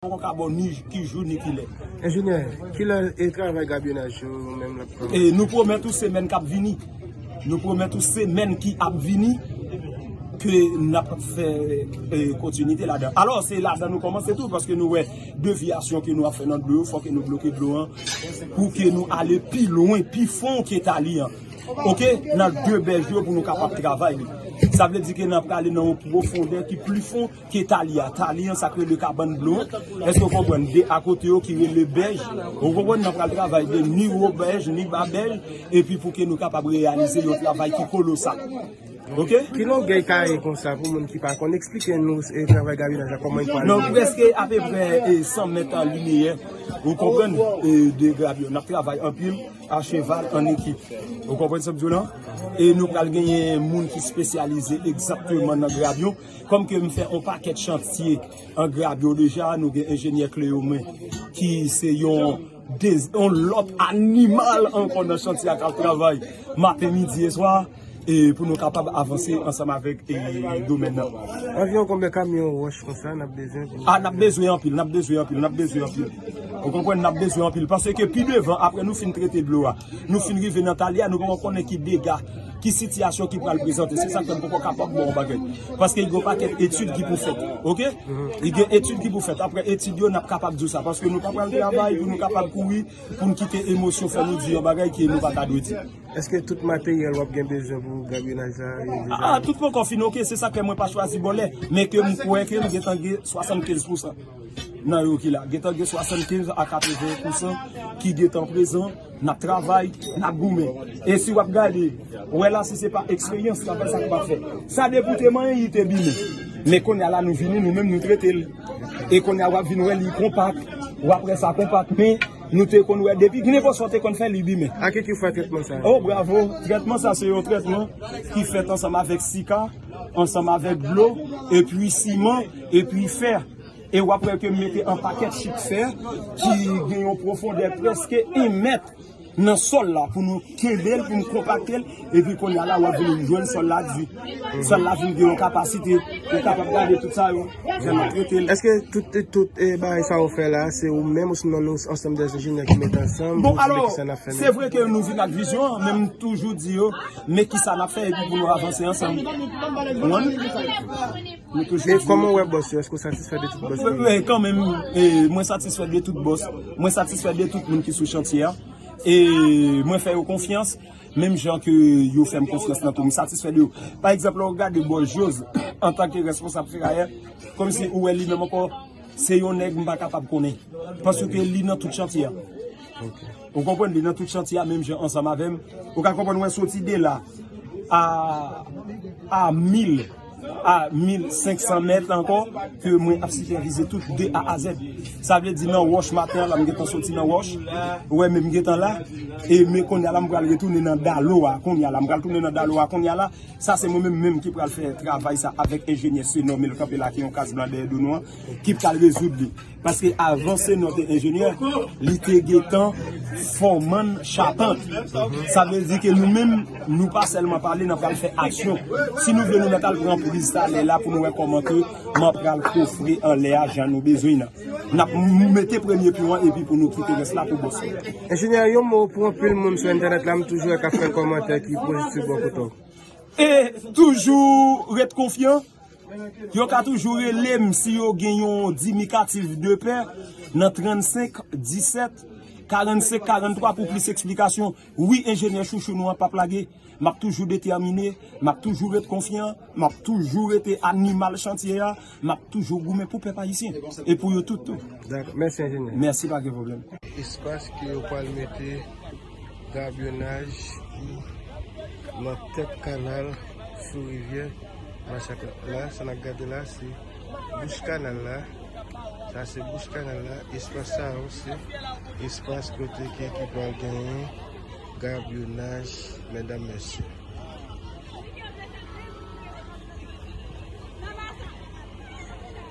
Poko ka bon ni ki jou ni ki lè. Enjenyè, ki lè e travay gabyonaj yo menm l ap kòmanse? E nou pwomèt ou semèn k ap vini. Nou pwomèt ou semèn ki ap vini ke n ap fè kontinite ladan. Alò, se ladan nou kòmanse tou paske nou wè devyasyon ke nou ap fè nan dlo yo fò ke nou bloke dlo an pou ke nou ale pi lwen, pi fon ke tali an. Ok, nan de bèj yo pou nou kapab travay li. Sa vle di ke n ap prale nan yon pwofondè ki pli fon. Ke tali a tali an sak rele kabann blo an eske ou konprann de akote yo ki rele bèj ou konprann nan pral travay de ni wo bèj ni ba bèj epi pou ke nou kapab reyalize yon travay ki kolosal ok. Ki longèy kaye konsa pou moun ki pa konn eksplike nou travay gabinaj la kòman li pral ye. Nou preske apeprè 100 mèt an lineyè ou konprann de grabi yo nap travay anpil a cheval an ekip ou konprann sa map di w la e nou pral genyen moun ki spesyalize egzakteman nan grabi yo. Kòm ke m fè on pakèt chantye an grabyo deja, nou gen enjenyè Cleome ki se yon on lòt animal ankò nan chantye a k ap travay maten, midi e swa e pou nou kapab avanse ansanm avèk domèn nan. Anviwon konbyen kamyon wòch konsa n ap bezwen pou. A n ap bezwen anpil, n ap bezwen anpil, n ap bezwen anpil. Ou konprann, n ap bezwen anpil. Pase ke pi devan apre nou fin trete dlo a, Nou fin rive nan tali a, nou poko konnen ki dega, ki sitiyasyon ki pral prezante. Se sak fè m poko kapab ba w yon bagay. Paske gen yon pakèt etid ki pou fèt. Ok? Gen etid ki pou fèt. Aprè etid yo, n ap kapab di w sa. Paske nou pa pral travay pou nou kapab kouri, pou n kite emosyon fè nou di yon bagay ke nou pa ta dwe di. Eske tout materyèl w ap gen bezwen pou gabyonaj la yo deja la? A, tout poko fin ok. Se sak fè mwen pa chwazi bòlè. Men ke m kwè ke m gen tan gen 75 pousan. nan yo ki la. Gentan gen 75 a 80 pousan ki gentan prezan, nap travay, nap goumen. E si wap gade, wè la si se pa eksperyans sa fè sak pa fè. Sa depi te manyen li te bine. Men konnya la nou vini nou menm nou trete l. E konnya wap vin wè li konpak, wap wè sa konpak men nou te konn wè depi nenpòt sa w te konn fè li bime. A ki ki fè trètman sa? O bravo, trètman sa se yon trètman ki fèt ansanm avèk sika, ansanm avèk dlo, epi siman, epi fè. E wap wè ke m mete an pakèt chik fè ki gen yon pwofondè prèske 1 mèt nan sòl la pou nou kenbe l, pou nou konpakte l. Epi kounya la wap vin jwenn sòl la di. Sòl la vin gen yon kapasite. Ou kapab gade tout sa yo, jan nou trete l. Eske tout bagay sa ou fè la, se ou menm osnon nou ansanm de enjenyè ki mete ansanm pou nou di kisa n ap fè nan? Bon, alò, se vre ke nou vin ak vizyon an, men m toujou di yo, men kisa n ap fè epi pou nou avanse ansanm. Ou konprann? Koman ou wè bòs yo? Èske ou satisfè de tout bòs yo? Kanmenm, mwen satisfè de tout bòs. Mwen satisfè de tout moun ki sou chantye a. E mwen fè yo konfyans. Menm jan ke yo fè m konfyans nan tou. M satisfè de yo. Pa egzanp, lè ou gade bòs Jose, antanke responsab ferayè, kòm si ou wè li menm ankò, se yon nèg m pa kapab konnen. Paske li nan tout chantye a. Ou konprann? Li nan tout chantye a menm jan ansanm avè m. Ou ka konprann mwen soti de la a mil. a 1500 mèt ankò ke mwen ap sipèvize tout de a a zèd. Sa vle di nan wòch maten an la m gen tan soti nan wòch, ou wè men m gen tan la, e men konnya la m pral retounen nan dalo a konnya la, m pral tounen nan dalo a konnya la, sa se mwen menm menm ki pral fè travay sa avèk enjenyè Senò men l kanpe la ki yon kas blan dèyè do nou an, ki pral rezoud li. Paske avan Senor te enjenyè, li te gentan foman chapant. Sa vle di ke nou menm, nou pa selman pale, nan pral fè aksyon. Si nou vle nou mèt al pran priz talè la pou nou wè koman ke mwen pral kofre anlè a jan nou bezwen nan. Nap nou mete premye pyon an epi pou nou kite res la pou bòs yo. Enjenyè, yon mo pou anpil moun sou entènèt la, m toujou wè kap fè kòmantè ki pozitif bò kote w. E toujou ret konfyan. Yo ka toujou rele m si yo gen yon dimikatif de pè nan 35 17 45 43 pou plis eksplikasyon. Wi enjenyè chouchou nou an pap lage. M ap toujou detèmine, m ap toujou ret konfyan, m ap toujou rete animal chantye a, m ap toujou goumen pou pèp ayisyen e pou yo tout tou. Mèsi pa gen pwoblèm. Espas ke yo pral mete. Gabyonaj ki nan tèt kanal sou rivyè Machak la. La, sa nap gade la se bouch kanal la. Sa se bouch kanal la. Espas sa yo se espas kote ke ki pral genyen gabyonaj medam mesye.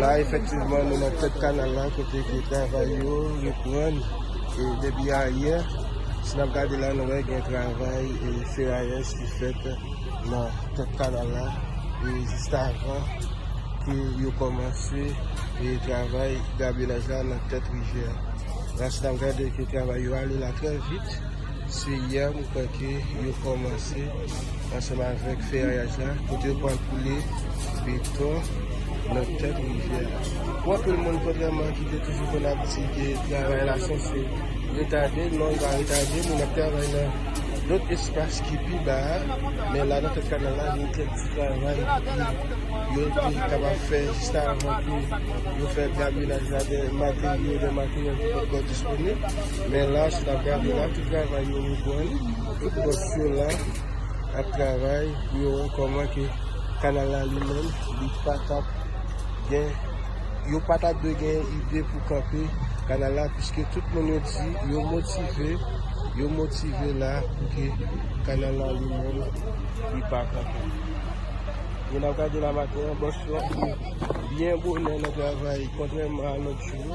La efektivman nou nan tèt kanal la kote ke travay yo reprann depi ayè. Si n ap gade la nou wè gen travay ferayèz ki fèt nan tèt kanal la e jiskavan ke yo kòmanse travay gabyonaj la nan tèt rivyè a. La si n ap gade ke travay yo ale la trè vit. Se yè m kwè ke yo kòmanse ansanm avèk ferayaj la kote yo pral koule beton nan tèt rivyè a. Pou anpil moun kontrèman ki te toujou konn ap di ke travay la sanse retade, non li pa retade moun ap travay nan lòt espas ki pi ba a men la nan tèt kanal la gen kèk ti travay ki yo te kapab fè jiskavan pou yo fè gaminaj la de materyo, de materyèl ki pa t ko disponib. Men lach la gade la ki travay yo reprann tout bòs yo la ap travay pou yo wè kòman ke kanal la li menm li patap gen yo patap dwe gen ide pou kanpe kanal la piske tout moun yo di yo motive yo motive la pou ke kanal la li menm li pa kanpe men ap gade la maten an bòs yo byen bonè nan travay kontrèman a lòt jou yo.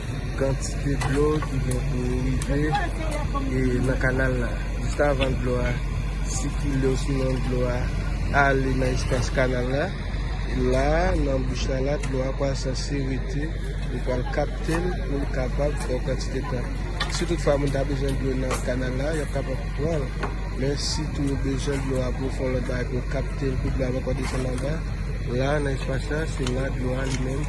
Kantite dlo ki gen pou rive nan kanal la jis avan dlo a sikile osinon dlo a ale nan espas kanal la. La nan bouch la la dlo a pral sanse rete li pral kapte l pou l kapab fè yon kantite tan. Si tout fwa moun ta bezwen dlo nan kanal la yo ap kapab pran l. Men si tou yo bezwen dlo a pou fon lòt bagay pou yo kapte l pou dlo a pa konn desann anba la nan espas la se la dlo a li menm.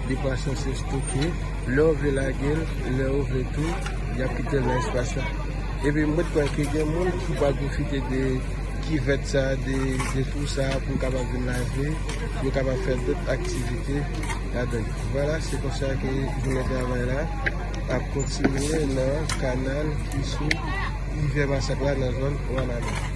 Dekwason se stoke, lè ou vle lage l, lè ou vle tou, y ap kite l nan espas la. Epi m ret kwè ke gen moun ki pral pwofite de kivèt sa, de twou sa pou yo kapab vin lave, pou yo kapab fè dòt aktivite ladan l. Vwala, se konsa ke jounen travay la ap kontinye nan kanal ki sou Rivye Masak la nan zòn Wanament.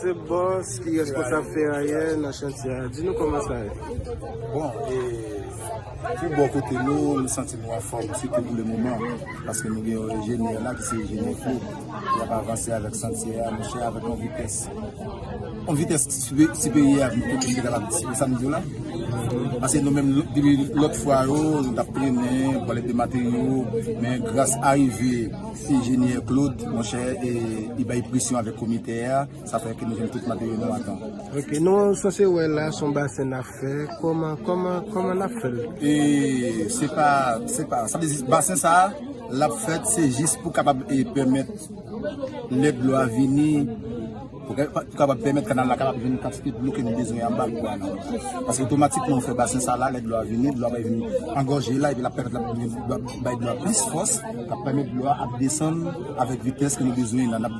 Se boss ki responsab ferayè nan chantye a. Di nou kòman sa ye? Bon, e pou bò kote nou, nou santi nou anfòm, sitou pou le moman. Paske nou gen yon enjenyè la ki se enjenyè fou, li ap avanse avèk chantier a monchè avèk yon vitès, yon vitès siperyè a tout moun te kapab di, se sa m di w la. Paske nou menm depi lòt fwa yo nou t ap trennen, pale de materyo, men gras arive enjenyè Claude monchè e li bay presyon avèk komite a. Sa fè ke nou jwenn tout materyèl nou atan. Ok, nou sanse wè la son basen nap fè, kòman, kòman, kòman nap fèl? E se pa, se pa, sa vle di basen sa a lap fèt se jis pou kapab e pèmèt lè dlo a vini, pou kapab pèmèt kanal la kapab jwenn kantite dlo ke nou bezwen anba pou kanal la. Paske otomatikman ou fè basen sa la, lè dlo a vini, dlo a bay vini angòje la epi lap pèmèt lap bay dlo a plis fòs, kap pèmèt dlo a ap desann avèk vitès ke nou bezwen nan.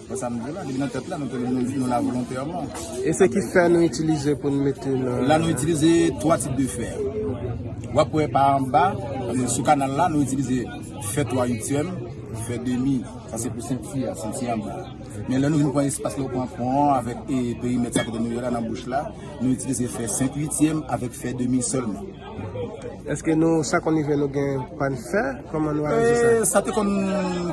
Bon sa m di la, depi nan tèt la nou te nou di nou la volontèman. E se ki fè nou itilize pou nou mete nan. La nou itilize 3 tip de fè. Wap wè pa anba, sou kanal la nou itilize fè 3 uityèm, fè demi, sa se pou senti a, senti anba. Men lè nou vin pran espas la ou pran fon an avèk perimèt sa kote nou ye la nan bouch la, nou itilize fè 5 uityèm avèk fè demi sèlman. Eske nou sa konn rive nou gen pann fè? Koman nou aji sa? Sa te konn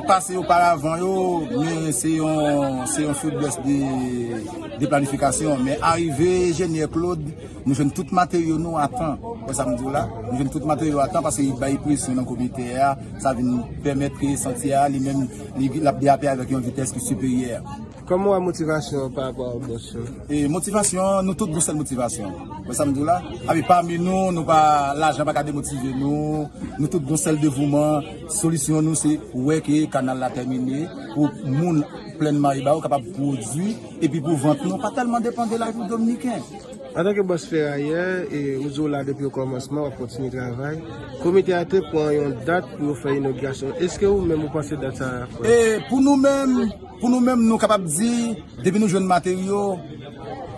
pase oparavan yo, men se yon se yon feblès de planifikasyon. Men arive Jenyè Klod, nou jwenn tout materyo nou a tan. Wè sa m di w la? Nou jwenn tout materyo a tan paske li bay presyon nan komite a, sa vin pèmèt ke santye a li menm li ap derape avèk yon vitès ki siperyè. Kòman w wè motivasyon an parapò a bòs yo? E motivasyon an, nou tout gon sèl motivasyon. Wè sa m di w la? Awi, pami nou, nou pa, lajan pa ka demotive nou. Nou tout gon sèl devouman. Solisyon nou se wè ke kanal la tèmine pou moun Plèn Maribawou kapab pwodui epi pou vant nou pa tèlman depan de lavi dominiken. Antanke bòs ferayè, e ou di w la depi okòmansman, w ap kontinye travay, komite a te pran yon dat pou yo fè inogirasyon. Eske ou menm ou panse dat sa a ap fèt? E pou nou menm. Pou nou menm nou kapab di depi nou jwenn materyo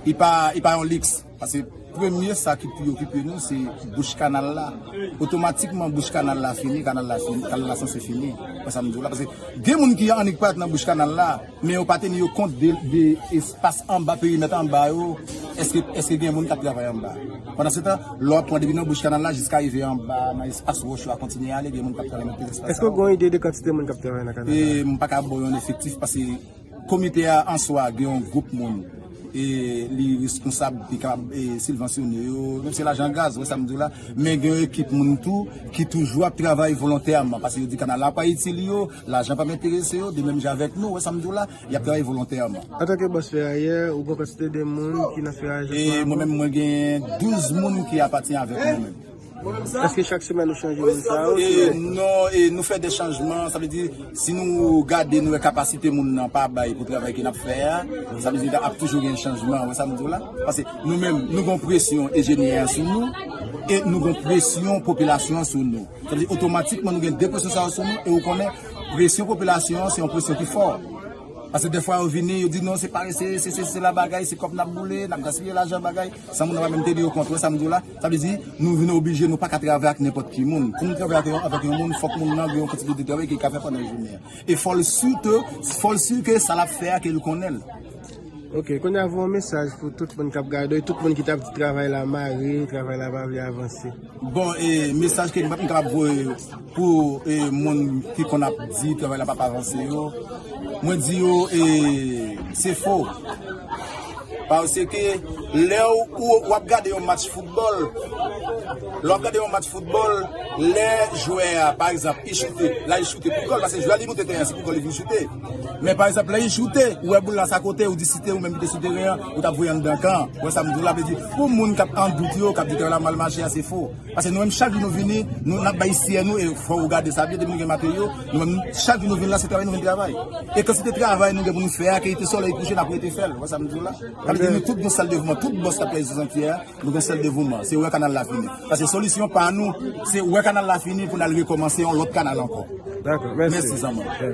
li pa yon liks paske premye sa ki pi okipe nou se bouch kanal la otomatikman bouch kanal la fini kanal la sanse fini wè sa m di w la paske gen moun ki annik pral nan bouch kanal la men yo pa teni yo kont de espas anba perimèt anba yo eske gen moun k ap travay anba. Pandansetan, lè w ap pran depi nan bouch kanal la jiska rive anba nan espas wòch yo a kontinye ale, gen moun k ap travay nan tout espas sa yo. Èske w gen yon ide de kantite moun k ap travay nan kanal la? E m pa ka ba w yon efektif pase komite a an swa gen yon gwoup moun e li reskonsab, li kapab silvansyone yo, menm si se lajan gaz, wè sa m di w la. Men gen yon ekip moun tou ki toujou ap travay volontèman pase yo di kanal la pa itil yo, lajan pa menterese yo, de menm jan avèk nou, wè sa m di w la. y ap travay volontèman. Antanke bòs ferayè, ou gen yon kantite de moun ki nan ferayè chak swa? Mwen menm mwen gen 12 moun ki apati avèk mwen menm. Èske chak semèn nou chanje moun sa yo? Non, nou fè de chanjman. Sa vle di, si nou gade nou wè kapasite moun nan pa bay pou travay ke n ap fè a, sa vle di ap toujou gen chanjman. Ou wè sa m di w la? Pase nou menm, nou gen yon presyon enjenyè a sou nou e nou gen yon presyon popilasyon an sou nou. Sa vle di otomatikman nou gen 2 presyon sa yo sou nou e ou konnen. Presyon popilasyon an se yon presyon ki fò. Pase defwa yo vini, yo di non se parese, se sesi, se la bagay, se kòb nap boule, nap gaspiye lajan bagay. San moun nan pa menm te di yo kont, ou wè sam diw la? Sa vle di, nou vin oblije nou paka travay ak nenpòt ki moun. Pou nou travay avèk yon moun, fòk moun nan gen yon kantite de travay ke li ka fè pandan jounen an. E fòl si ke, fòl si ke sa lap fè a ke li konnenl. Ok kounye a voye mesaj pou tout moun kap gade tout moun ki tap di travay la mare travay la pa vle avanse. Bon e mesaj ke m kapab voye pou e moun ki konn ap di travay la pap avanse yo mwen di yo e se fo pase ke lè ou wap gade yon match foutbòl lè wap gade yon match foutbòl lè jwè a pa egzanp li choute la li choute pou gòl pase jwè a li moute teren an se pou gòl li vin choute. Men pa egzanp lè yi choute ou wè boul la sa kote ou di si te ou menm ki te sou teren an ou tap voye anndan kan ou wè sam diw la vle di pou moun kap an dout yo kap di teren la mal mache a se fo pase nou menm chak jou nou vini nou nap bay siye nou e fò ou gade sa byen depi nou gen materyo nou menm chak jou nou vin la se travay nou vin travay e kantite travay nou gen pou nou fè a ke te solèy kouche nap rete fèl ou wè sam diw la sa vle di nou tout gen sèl devouman tout bòs kap travay sou chantier a nou gen sèl devouman se wè kanal la fini pase solisyon pa nou se wè kanal la fini pou nal rekomanse yon lòt kanal ankò mèsi zanmanm.